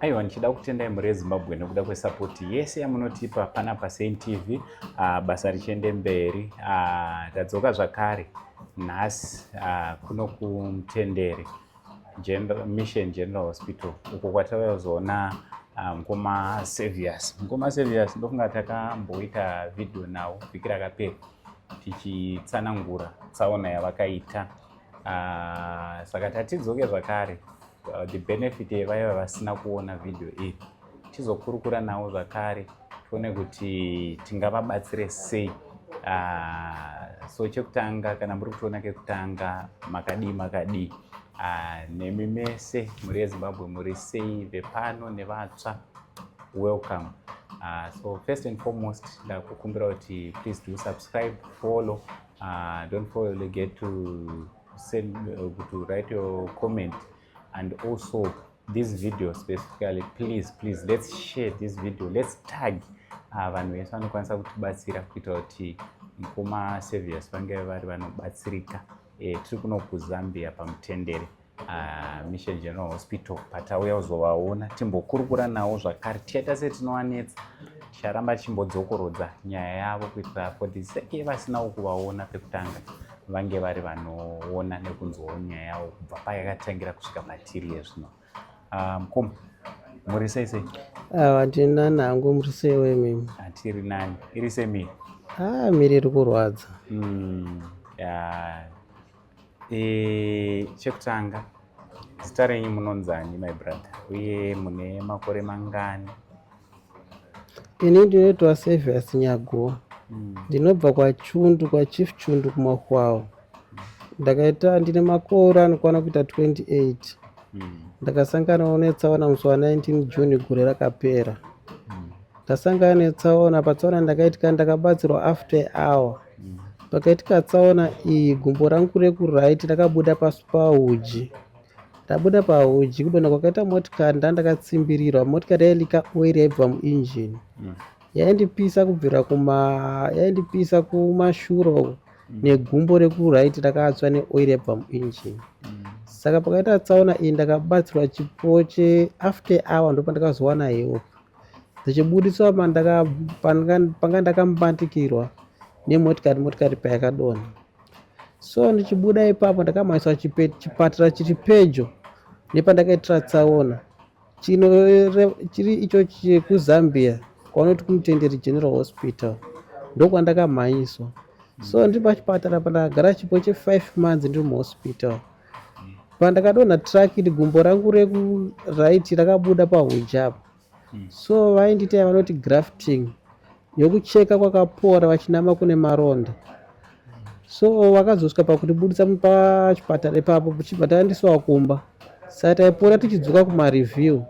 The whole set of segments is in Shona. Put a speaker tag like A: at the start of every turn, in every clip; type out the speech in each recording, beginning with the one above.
A: Aiwa, ndichida kutendai muri ezimbabwe nekuda kwesapoti yese yamunotipa pana pasein tv uh, basa richiende mberi uh, tadzoka zvakare nhasi uh, kuno kumtendere General, mission general hospital uko kwatauya kuzoona ah, mukoma um, savius mukoma savius ndofunga takamboita vhidhiyo nawo vhiki rakapera tichitsanangura tsaona yavakaita Ah, saka tatidzoke zvakare ah, the benefit yevaiva vasina kuona vhidhiyo iyi tizokurukura navo zvakare tione kuti tingavabatsire sei ah, so chekutanga kana muri kutiona kekutanga makadii makadii nemi mese mhuri yezimbabwe muri sei vepano nevatsva welcome so first and foremost ndakukumbira kuti please do subscribe follow Uh, don't forget to send uh, to write your comment and also this video specifically please please let's share this video let's tag uh, vanhu vese vanokwanisa kutibatsira kuita kuti mukoma servius vange vari vanobatsirika eh, tiri kuno kuzambia pamutendere Ah, Mission General Hospital patauya kuzovaona timbokurukura nawo zvakare tichaita setinovanetsa ticharamba tichimbodzokorodza nyaya yavo kuitira for the sake yevasinawo kuvaona pekutanga vange vari vanoona nekunzwawo nyaya yavo kubva payakatangira kusvika patiri yezvino ah, mukoma muri sei sei hatiri ah, nani
B: hangu muri sei wemimi hatiri nani
A: iri semiri miri iri
B: kurwadza hmm, E,
A: chekutanga zita renyu munonzani my brother uye mune makore mangani?
B: Ini ndinoitwa Servius Nyaguwa mm. ndinobva kwaChundu kwaChief Chundu kuMahwawo ndakaita ndine makore anokwana kuita 28 mm. ndakasanganawo netsaona musi wa 19 June gore rakapera mm. ndasangana netsaona patsaona ndakaitika ndakabatsirwa after hour Pakaitika tsaona iyi gumbo rangu rekuright rakabuda pasi pahuji rabuda pahuji kudonha kwakaita motikari ndandakatsimbirirwa motikari yailika oil yaibva muinjini mm. yaindipisa kubvira kuma yaindipisa kumashuro mm. negumbo rekuright rakatswa neoil yaibva muinjini mm. saka pakaita tsaona iyi ndakabatsirwa chipo cheafter hour ndopandakazowana help Dzichiburitswa panga ndakamubatikirwa nemotikari motikari payakadonha. So ndichibuda ipapo ndakamhanyiswa chipatira chiri pedyo nepandakaitira tsaona chiri icho chekuzambia kwaunoti kumutenderi general hospital ndokwandakamhanyiswa so ndiri pachipatara pandakagara chipo chefive months ndiri muhospital pandakadonha truck iri gumbo rangu reku right rakabuda pahunja apo hmm. so vaindiita vanoti grafting yokucheka kwakapora vachinama kune maronda so vakazosvika pakundibudisa pachipatara ipapo kuchibva taendeswa kumba saka taipora tichidzoka kumareview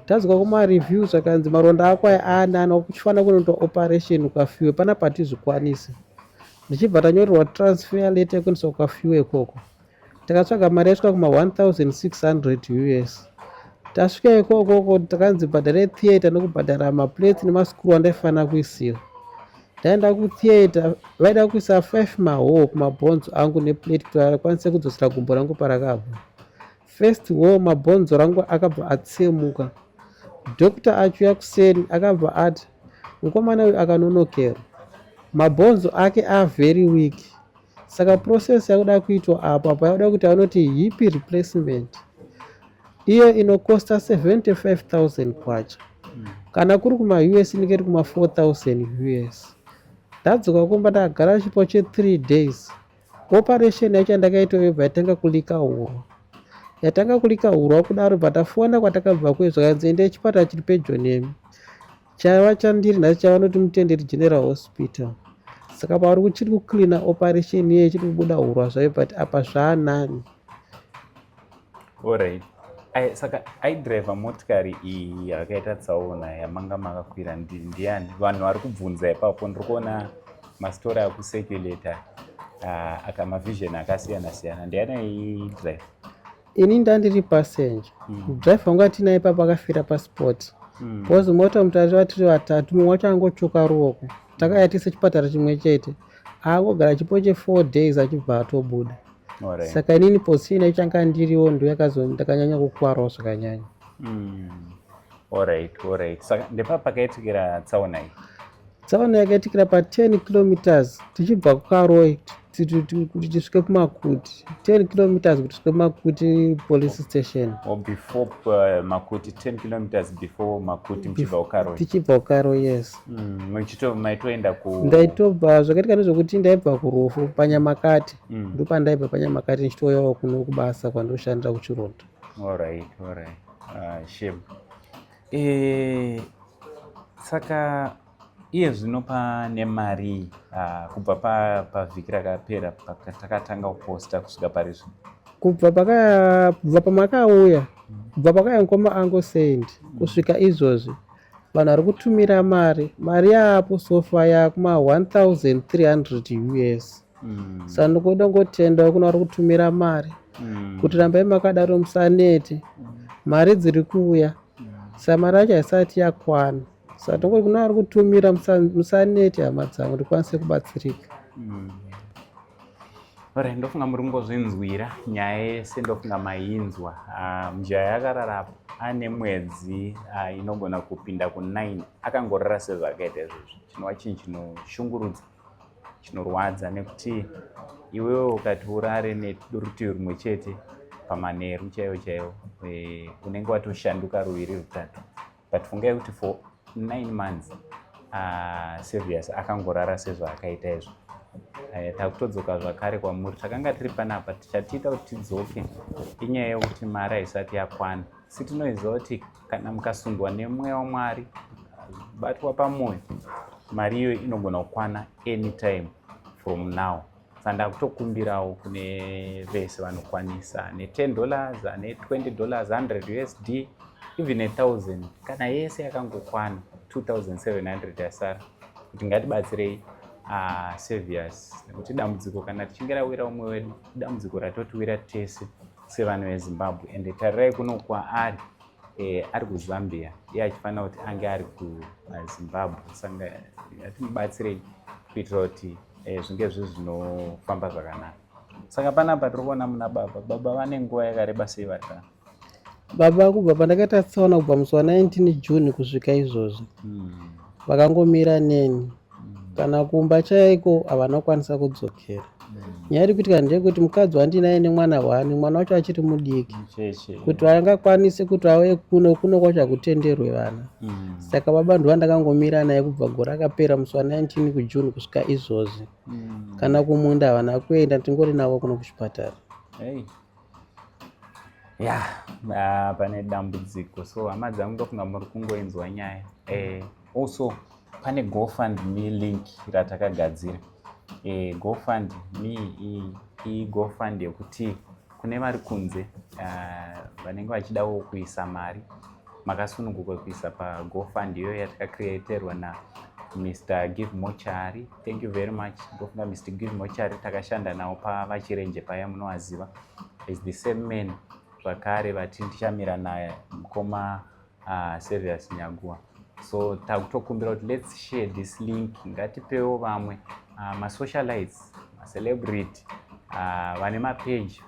B: tadzoka kumareview zvakanzi maronda ako aya anana kuchifanira kunoitwa operation ukafiwe pana patizvikwanise ndichibva tanyorerwa transfer letter yekuendeswa kwafiwe ikoko takatsvaga mari yaisvika kuma 1600 us tasvika ikoko ko takanzi bhadhare theatre nekubhadhara maplates nemasikuru andaifanira kuisira ndaenda kutheatre vaida kuisa 5 mahoo kumabhonzo angu neplate kuti akwanise kudzosera gumbo rangu parakabva First hoo mabhonzo rangu akabva atsemuka. Doctor achiuya kuseri akabva ati mukomana uyu akanonokera. Mabhonzo ake are very weak. Saka process yakuda kuitwa apo apa yakuda kuti anoti hip replacement iyo inokosta 75000 kwacha kana kuri kumaus inenge iri kuma 4000 us ndadzoka kumba ndakagara chipo che 3 days Operation yacho yandakaita yobva yatanga kulika hurwa. Yatanga kulika hurwa kudaro bva tafona kwatakabva kuye zvakanzi endai chipatara chiri pedyo nemi. Chaiva chandiri nhasi chavanoti Mutenderi General Hospital. Saka pavari kuchiri kucleaner operation iye ichiri kubuda hurwa zvayo but apa zvaanani.
A: Alright. I, saka aidriver motikari iyi yakaita tsaona yamanga makakwira ndiani vanhu vari kubvunza ipapo ndiri kuona mastori akuseculator uh, aka mavision akasiyana siyana ndiani aidriver ini
B: ndandiri passenger mm. driver wangu atinaye ipapo akafira paspoti mm. because mota mutatu vatiri vatatu mumwe wacho angotsvuka ruoko takayatisa chipatara chimwe chete aangogara chipo chefour days achibva atobuda saka inini posina ichanga ndiriwo ndo yakazo ndakanyanya kukwarawo zvakanyanya mm.
A: orit orit saka ndepa pakaitikira tsaona iyi tsaona yakaitikira
B: pa 10 kilometers tichibva kukaroi kuti tisvike kumakuti 10 kilometers kuti tisvike kumakuti police station or before uh,
A: makuti 10 kilometers before makuti muchibva kukaroi tichibva kukaroi yes
B: Mm, maitoenda
A: ku ndaitobva
B: zvakaitika ndezvekuti ndaibva kurufu panyamakati mm. ndopandaibva panyamakati ndichitouyawo kuno kubasa kwandoshandira kuchironda alright
A: alright uh, shame e, saka iye zvino pane mari uh, kubva pavhiki pa rakapera patakatanga kuposta kusvika pari zvino kubva
B: pakabva pamakauya mm. kubva pakaya mukoma angosendi mm. kusvika izvozvi vanhu vari kutumira mari mari yaapo sofa yakuma 1300 us mm. sa ndikoda ngotendawo kuna vari kutumira mari mm. kuti rambai makadaro musanete mm. mari dziri kuuya mm. sa mari yacho haisati yakwana sa tongoti kuna vari kutumira musanete hama dzangu ndikwanise kubatsirika mm.
A: Ore, ndofunga muri kungozvinzwira nyaya yese ndofunga mainzwa ah, mujaya yakarara apo ane mwedzi ah, inogona kupinda ku9 akangorara sezvakaita izvozvi chinova chinhu chinoshungurudza chinorwadza nekuti iwewo ukati urare nerutivi rumwe chete pamanheru chaivo chaivo eh, unenge watoshanduka ruviri rutatu but fungai kuti for nine months uh, serious akangorara sezvaakaita izvo eh, takutodzoka zvakare kwamuri takanga tiri panapa tichatiita kuti tidzoke inyaya yekuti mari haisati yakwana si tinoiziva kuti kana mukasundwa nemweya wamwari batwa pamwoyo mari iyoyo inogona kukwana anytime from now sandakutokumbirawo kune vese vanokwanisa ne10 dollars ane 20 dollars 100 usd even a thousand kana yese yakangokwana 2700 yasara kuti ngatibatsirei uh, saviors nekuti dambudziko kana tichinge rawira umwe wedu dambudziko ratotiwira tese sevanhu vezimbabwe ende tarirai kuno kwaari eh, ari kuzambia iye achifanira kuti ange ari kuzimbabwe eh, saka atimubatsirei kuitira kuti eh, zvinge zvi zvinofamba zvakanaka saka panapa tiri kuona muna baba baba vane nguva yakareba sei vari kana baba
B: kubva pandakaita tsaona kubva musi wa 19 june kusvika izvozvi hmm. vakangomira neni kana kumba chaiko havana kukwanisa kudzokera nyaya iri kuitika ndeyekuti mukadzi wandinaye nemwana wani mwana wacho achiri mudiki kuti vangakwanise kuti vauye kuno kuno kwacho hakutenderwe vana mm. saka baba ndivo vandakangomira naye kubva gore akapera musi wa 19 kujune kusvika izvozvi mm. kana kumunda havana kuenda tingori navo kuno kuchipatara
A: ya yeah, pane dambudziko so hama dzangu ndofunga muri kungoinzwa nyaya eh, also pane gofund me link ratakagadzira eh, gofund me iyi gofund yekuti kune vari kunze ah, vanenge uh, vachidawo kuisa mari makasununguka kuisa pagofund iyoyo yatakacreaterwa na mr give mochari Thank you very much Governor Mr. Give Mochari takashanda nawo pavachirenje paya munowaziva is the same man zvakare vati ndichamira naye mukoma uh, Servius Nyagua so takutokumbira kuti let's share this link ngatipewo vamwe uh, masocialites macelebrity Ah, vane mapage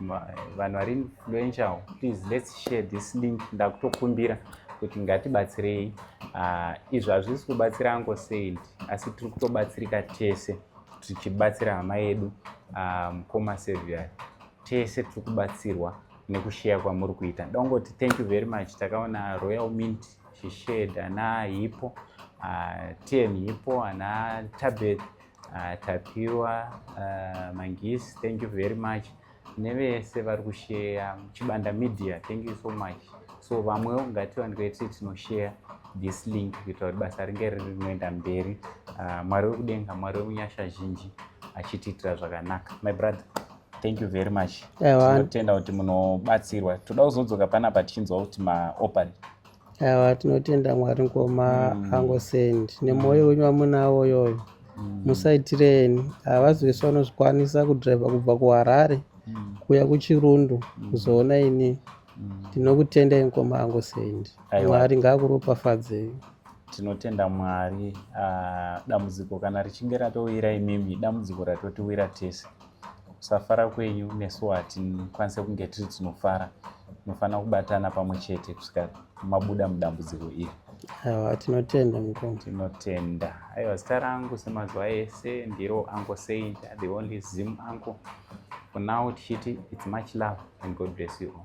A: vanhu vari influential please let's share this link ndakutokumbira kuti ngatibatsirei ah, izvi hazvisi kubatsira ango saint asi tiri kutobatsirika tese tichibatsira hama yedu ah, mukoma um, seviary tese tiri kubatsirwa nekusheya kwamuri kuita ndongoti thank you very much takaona royal mint shished ana hipo uh, ah, tn hipo ana tabet uh, ah, tapiwa uh, mangisi thank you very much nevese vari kusheya chibanda media thank you so much so vamwewo ngatiwanikwe tiri tinosheya this link kuitira kuti basa ringe riri rinoenda mberi ah, mwari wekudenga mwari wemunyasha zhinji achitiitira zvakanaka my brother thank you very much tinotenda kuti munobatsirwa toda kuzodzoka panapa tichinzwa kuti maopari Awa
B: tinotenda Mwari ngoma mm. angosend nemwoyo wenyu wamunawo yoyo mm. musaitireni havazi vese vanozvikwanisa kudriva kubva kuharare mm. kuya kuchirundu mm. kuzoona mm. ini ndinokutendai mm. ngoma angosend mwari ngaakuropafadzei tinotenda
A: mwari uh, dambudziko kana richinge ratouyira imimi dambudziko ratotiwira tese kusafara kwenyu nesu hatikwanise kunge tiri tinofara tinofanira kubatana pamwe chete kusvika mabuda mudambudziko iri awa
B: tinotenda mukoma tinotenda
A: aiwa zita rangu semazuva ese ndiro anko saint the only zim anko for now tichiti its much love and god bless you all